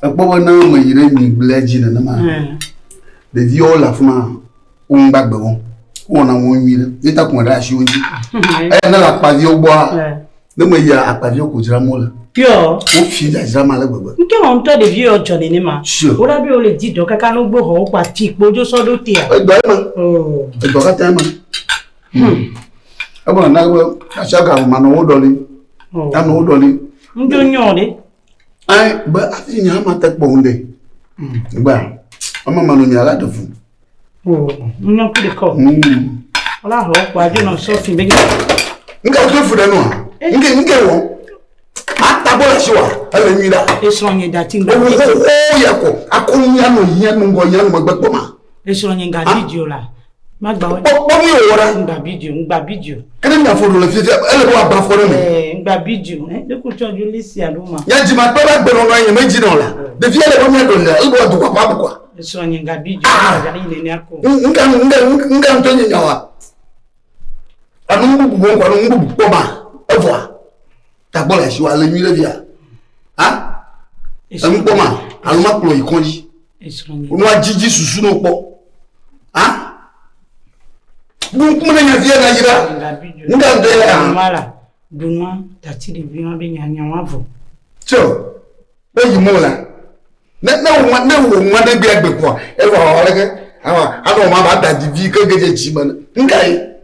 ekpɔ be ne meyi ɖe nyigblea dzi nenema ɖeviwo le afi ma wo ŋu gbagbe wo wowɔna wo ŋu nyuie ɖe yeta kɔn ɖe asi wo ŋuti eya ne le akpaviwo gbɔa ne me yia akpaviwo ko dzram wole wofi dzadzram ale gbegbe ŋutɔ wɔ ŋutɔ ɖevi yɔ dzɔ nene ma woɖa be wole di dɔ kaka no gbohɔ wokpa ti kpo dzo sɔ ɖo tea edɔ ema oh. edɔ katã ema hmm. ebe nana be asiaga manɔ wo ɖɔli oh. anɔ wo ɖɔli ŋdo nyɔ ɖe Ai, be afi nya ma te kpɔ ŋu ɖe. Gba, ama ma no nya la de fu. O, nu nya kple kɔ. Mm. Ola ho kwa jo no so fi be. Nke ke fu ɖe no. Nke nke wo. Ata bo la shi wa, ele nyi da. Eso nye da ti ngba. O ya ko, akon nya no nya no ngɔ nya no magbe kpɔ ma. Eso nye ga di jo la. Magba wo. Kpɔ kpɔ mi wo ra. Ngba bi ju, ngba bi ju. Kene mi afo do le fifia, ele bo aba fo ne mi. Eh, ngba bi ju. Eh, de ku cho ju li si a do ma. Ya ji ma pe ba gbe no no yin me ji no la. De fia le bo mi do le, ele bo do kwa pa bu kwa. Eso nyi ngba bi ju, ah! ja yin ne ako. Nga nga nga nga nyi nyawa. Anu ngu bu bon kwa no ngu bu kwa ma. Evwa. Ta bo la shi wa le mi le via. Ha? Anu kwa ma, anu ma klo yi konji. wonɔ adzidzi susu no kpɔ a buku ne nya fia nayira nga bɛ a. mala dunua tati de bi ma bɛ nya nya wa vɔ. tso bɛ yi mo la ne ne wo ne wo ma de bi agbe kɔ e wa wa leke awa anɔ ma ba da di vi ke gede dzi me ne nga ye.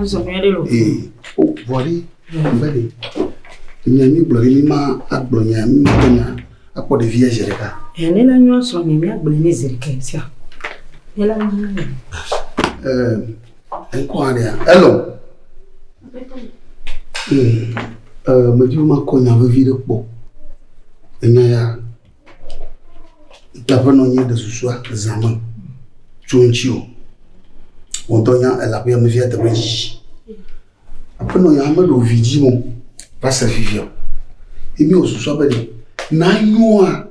Azɔ nyuie ɖe o. Ee, o vɔ ɖe, ŋbɛ ɖe. Nya mi gblɔ ɖe mi ma agblɔ nya mi ma gblɔ nya akpɔ ɖevia zi ɖeka. Ee, ne la nyɔ sɔ mi mi agblɔ ne zi ɖeka sia. Ne la nyɔ ne. Ee, enkɔ aɖe ya. Hello. Ee, ee, medi ma kɔ nya vevi ɖe kpɔ. Enya ya. Ntaƒe nɔ nye ɖe susua zã me tso ŋuti o. Wòdɔ nya elaƒe ame via teƒe dzi. Aƒenɔ ya meɖo vidzi mo va se fifia. Yi mi wòsusua be ɖe na nyoa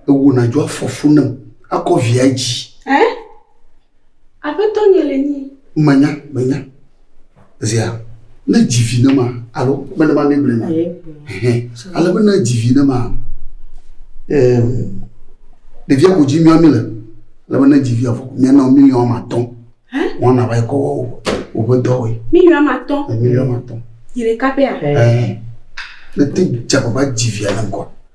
ewona dzo afɔfu nam akɔ via dzi. Eh? Aƒetɔ nye le nyi. Menya, menya. Zia, ne dzi vi ne ma, alo mene ma ne blema. Ale be ne dzi vi ne ma, ɖevia ko dzi mia mi le. Ale be ne dzi via fɔ, mia nɔ miliɔn ama tɔn. Wɔn na va yi kɔ wɔ o be dɔ wɔ. Miliɔn ama tɔn. Miliɔn ama tɔn. Yele kapɛ a? Ne te dza baba dzi via ne kɔ.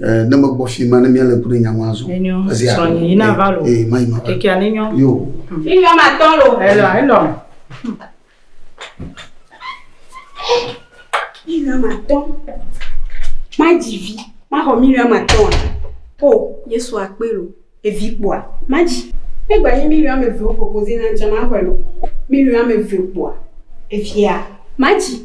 Eh, ne megbɔ fi ma ne míale ŋku ɖe nya ŋu azɔ. Enyo. Ezi a- Sɔnyi yi na va lo. Eh, ma yi ma va. Kekia ne nyo. Yo. Iyɔ ma tɔ lo. Elɔ elɔ. Million ma tɔ. Ma dzi vi. Ma xɔ million ma tɔ. O, Yesu akpe lo. Evi kpɔa. Ma dzi. Ne gba yi million me ve o propose na ŋtsɛ ma xɔe lo. Million me ve kpɔa. Evia. Ma dzi.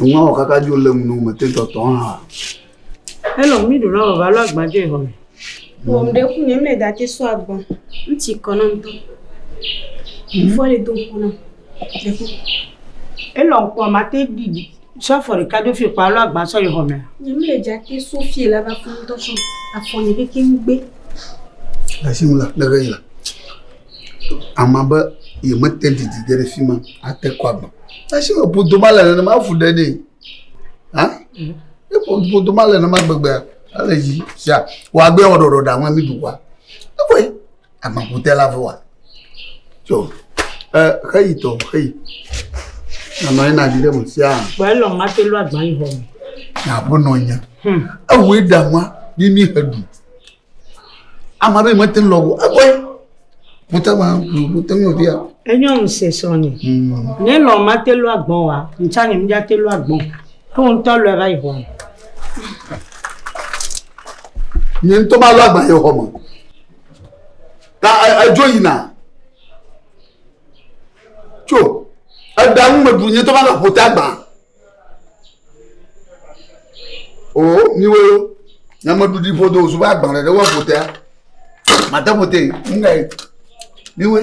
Nua kaka dzo le ŋu me te tɔtɔ hã. Hello, mi ɖu na baba lɔ agba dzo ihɔ me. Wòm ɖe ku nye mle date so agba. Ŋtsi kɔ na ŋtɔ. Mfɔ le do ŋku na. Elɔ ŋkɔ ma te ɖi sɔ afɔ ɖeka ɖo fi kpa alo agba sɔ yi xɔ mɛ. Nyem le dza te so fi la va fɔ ŋdɔ sɔ afɔ ne keke ŋgbe. Asi mu la le ve yla. Ama be ye me te didi ge ɖe fi ma ate kɔ agba. Asi me bodo ma le ne ma fu ɖe ne. Ha? Ne bodo ma le ne ma gbegbe ale yi sia. Wa gbe wa ɖoɖo da ŋa mi du wa. Ne ko agbaƒutela vɔ wa so ɛ xeyi tɔ xeyi nanɔ yina di ɖe me sia Vɔ elɔ mate lɔ agba yi hɔ me. naƒe nɔ nya Hmm. ewɔe ɖama ni ni he ɖu ama ɖe mete lɔ o ekɔe mete ma mete ŋlɔ bia Enyɔ ŋusẽ srɔ̃nye. Ne lɔ mate lɔ agbɔn wa, ŋtsa nye ŋdza te lɔ agbɔn. Ko ŋtɔ lɔ va yi hɔ me. nye ŋutɔ ma lɔ agba yɔ xɔ me ta edzo yina tso eɖa ŋu meɖu nye tɔ va le ƒota gbã o miwo nyameɖuɖi ƒodo zuba gbã ɖe ɖe woƒotea mate ƒote ŋgae miwoe.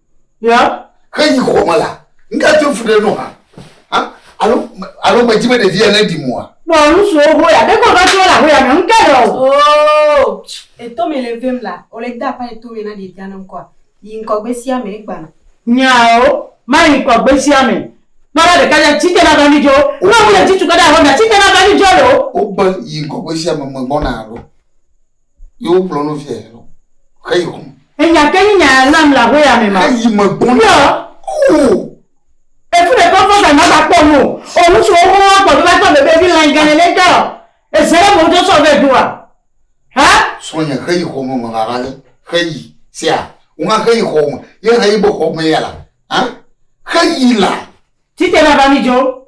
Ya. He yi xɔ me la, ŋga tso fu ɖe nɔ ha. Ha? Alo alo me dzi me ɖevi ya ne di mua. Nɔ nu so ho ya, ɖe ko va tso la ho ya me ŋga ɖe o. Oh, e to me le vem la, o le da pa e to me na ɖevia ne ŋkɔa. Yi ŋkɔ gbe sia me e gba na. Nyao, ma yi ŋkɔ gbe sia me. Kpɔ ɖa ɖeka ya tsi te na va mi djo. Nɔ ŋu le tsi tsu ka ɖe ahɔ mia tsi te na va mi djo le o. O gbe yi ŋkɔ gbe sia me me gbɔ na alo. Ye wokplɔ nu via yɛ lɔ. Xe yi xɔme. Enya ke nyi nya nam le aƒeya me ma. Eyi me gbɔn. Yɔ. O. Efu ɖe kɔfɔ sa ma ba kpɔ nu. O ŋutsu wo kɔn wa kpɔ do ba tɔ bebe vi lan gan ele tɔ. Eze le mo do sɔ ve do wa. Ha? Sɔ nya xe yi xɔme me la rale. Xe yi. Sia. Wona xe yi xɔme. Ye xe yi bo xɔme ya la. Ha? Xe yi la. Tite na ba mi jo.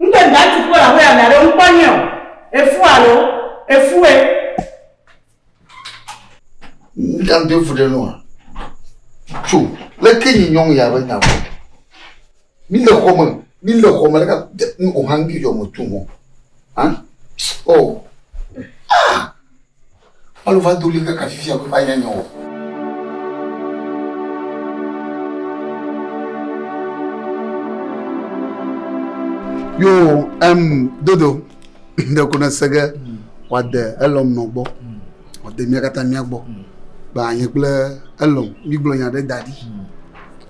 Ŋgbe mia tu kpɔ la hoya mia ɖe ŋkpɔ nyɛ o. Efu alo? Efu e. Ŋkan do efu ɖe nua. Tso, le ke nyi nyɔŋ ya be nya bɔ. Mi le xɔ me, mi le xɔ me, le ka te, o hangi yɔ me tu mo. Hein? Oh. Ah! Alo va do ɣli kaka fifia be manya nya o. Yo em dodo ɖe ko nese ge wòade elɔm nɔ gbɔ wòade mía katã mía gbɔ be anye kple elɔm mígblɔ nya ɖe da ɖi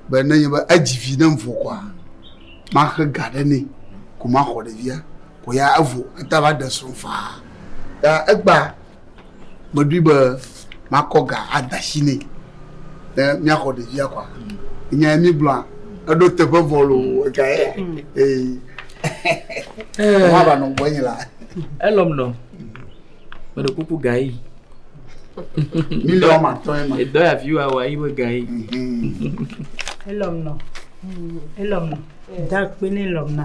be nenye be edzi vi ɖem vɔ kɔa maxe ga ɖe nɛ ko maxɔ ɖevia. Ko ya evo eta va ɖe srɔ̃ faa. Ya egba meɖoe be makɔ ga ada asi nɛ ne míaxɔ ɖevia kɔa. Nya ye míegblɔa eɖo teƒe vɔ loo ega ye. Ee. Wova va nɔ gbɔ nye la. Elɔm nɔ. Meɖe kuku ga yi. Miliɔn ma tɔ ye ma. Edɔ ya fi wa wa yi be ga yi. Elɔm nɔ. Elɔm nɔ. Da kpe ne lɔm na.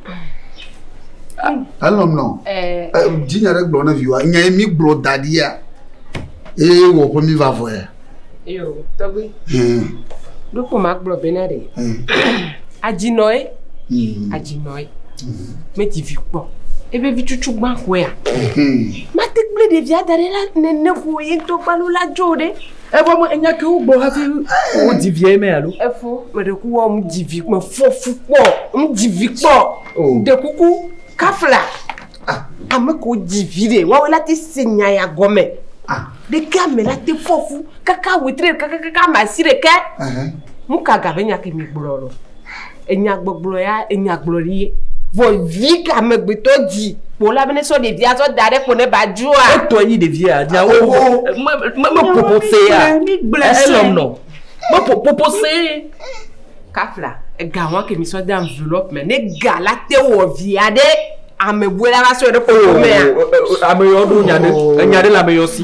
elɔm nɔ dzinya ɖe gblɔ ne viwa nya mi gblɔ da ɖi ya eye wɔ ƒe mi va vɔ ya. eyo tɔgbi ɖokpo ma gblɔ be na ɖe adzinɔ ye adzinɔ ye meti vi kpɔ ebe vi cucu gbã koe ya mate kple ɖevia da ɖe la nene ko ye ŋutɔ gbalo la dzo ɖe. Evo me enya ke wogblɔ hafi wodzi viae mɛ alo? Efo meɖe ku wɔ ŋdzi vi me fɔ fu kpɔ ŋdzi vi kpɔ ɖe kuku kafla ame ko dzi vi ɖe wawe la te se nya ya gɔmɛ ɖeke ame la te fɔ fu kaka wetri ɖeka kakaka ame asi ɖeke nu ka ga be nya ke mi gblɔ lɔ Enyagbɔgblɔ ya enyagblɔ ɖi ye. Vɔ vi ka amegbetɔ dzi kpo la be ne sɔ ɖevi azɔ da ɖe kpo ne ba dzua. Etɔ yi ɖevi ya dza wo wo. Me me me popo se ya. Mi gble se. Elɔm nɔ. Me po popo se. Kafla ega wɔn ke mi sɔ de envelope me ne ga la te wɔ via ɖe ame bue la va sɔ ɖe kpo me ya. Ame yɔ ɖo nya ɖe enya ɖe le ame yɔ si.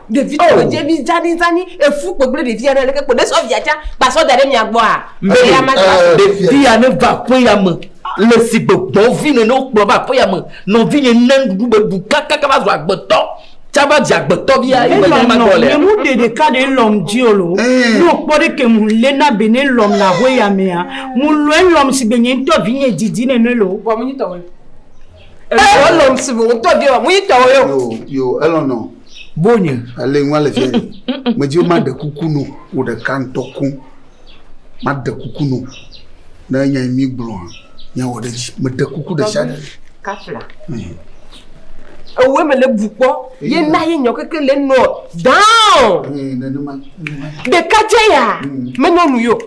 Ɖevi oh. tugbedzɛ oh. mi zani zani efu kpegble ɖevi aɖe leke kpo ne sɔ via tsa ba sɔ da ɖe mia gbɔa. Mbɛya ma gba. Eh, ɖevia ne va aƒeya me le si gbɔgbɔ vi nene wokplɔ va aƒeya me nɔvinye ne nuɖuɖu be ɖu kakaka va zu agbetɔ tsa va dze agbetɔ bia ye me ne ma gbɔ lea. Emu ɖe ɖeka ɖe lɔm dzi o lo. Eh. Ne wokpɔ ɖe ke mu le na be ne lɔm le aƒeya mea mu lɔe lɔm si be nye ŋutɔ vi nye didi nene lo. Bɔn mu nyi tɔwɔe. Elɔn si be ŋutɔ vi wa mu nyi tɔwɔe o. Yo yo elɔn nɔ. Bonye ale ŋu ale viɛ me dzi ma ɖe kuku no wo ɖe ka ŋutɔ ko ma ɖe kuku no ne nya mi gblɔ nya wɔ ɖe dzi me ɖe kuku ɖe sia ɖe kafla ewe me le bu kpɔ ye na ye nyɔ keke le nɔ down de ka je ya me nɔ nu yo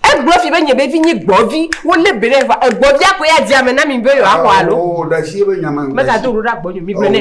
e gblɔ fi be nye be vi nye gbɔ vi wo le be ne va e gbɔ vi a ko ya dzi ame na mi be yo a ko alo me ta do ro da gbɔ nyo mi be ne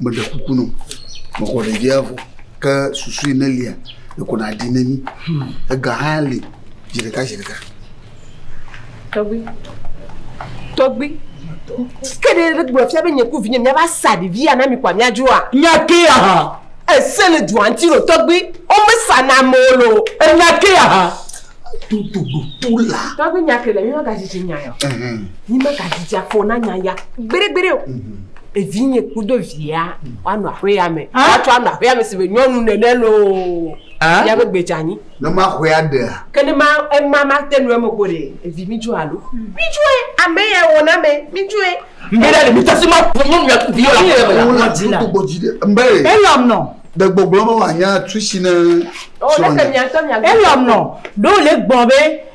meɖe kuku nɔ mekɔ ɖevia vɔ ke susu yi nelia ekɔ na ɖi ne mi ega hã li zi ɖeka zi ɖeka tɔgbi tɔgbi ke ɖe ɖe gblɔ fia be nye ku vinye mia va sa ɖevi ya na mi kwa mia dua nya ke ya ha ese le dua ŋti lo tɔgbi o me sa na mo lo enya ke ya ha tutu tutu la tɔgbi nya ke le mi ma ka zizi nya ya mi ma ka zizi akpo na nya ya gbere gbere o mm -hmm. Evinye kudo via woanɔ aƒea me. Woatsɔ anɔ aƒea me si be nyɔnu nene loo. Fia be gbe dza nyi. Ne maxɔe aɖea? Ke ne ma ema mate nu eme ko ɖe, evi mi dzɔe alo? Mi dzɔe, ame yae wɔna ame, mi dzɔe. Mbe ɖe le mi tasi ma ƒo nyɔnu ya vi yɔla ƒe yame la. Wodo gbɔdzi ɖe mbe. Elɔm nɔ. De gbɔgblɔ be wòanya tusi ne. O ne ke miatɔ miagblɔ. Elɔm nɔ. Ɖo le gbɔ be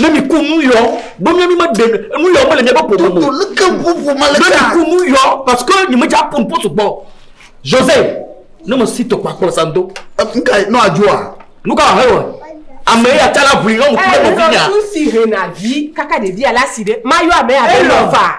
ne mi ku nu yɔ ɖo mi mi me de nu yɔ me le mi be pomo mo ne mi ku nu yɔ parce que ni me dza pon potu gbɔ jose ne me si to kpa kpɔ sa do nka no adjoa nuka he wa ame ya tala bui no mu ku no vinya tu si hena vi kaka de via la si de ma yo ame ya de no fa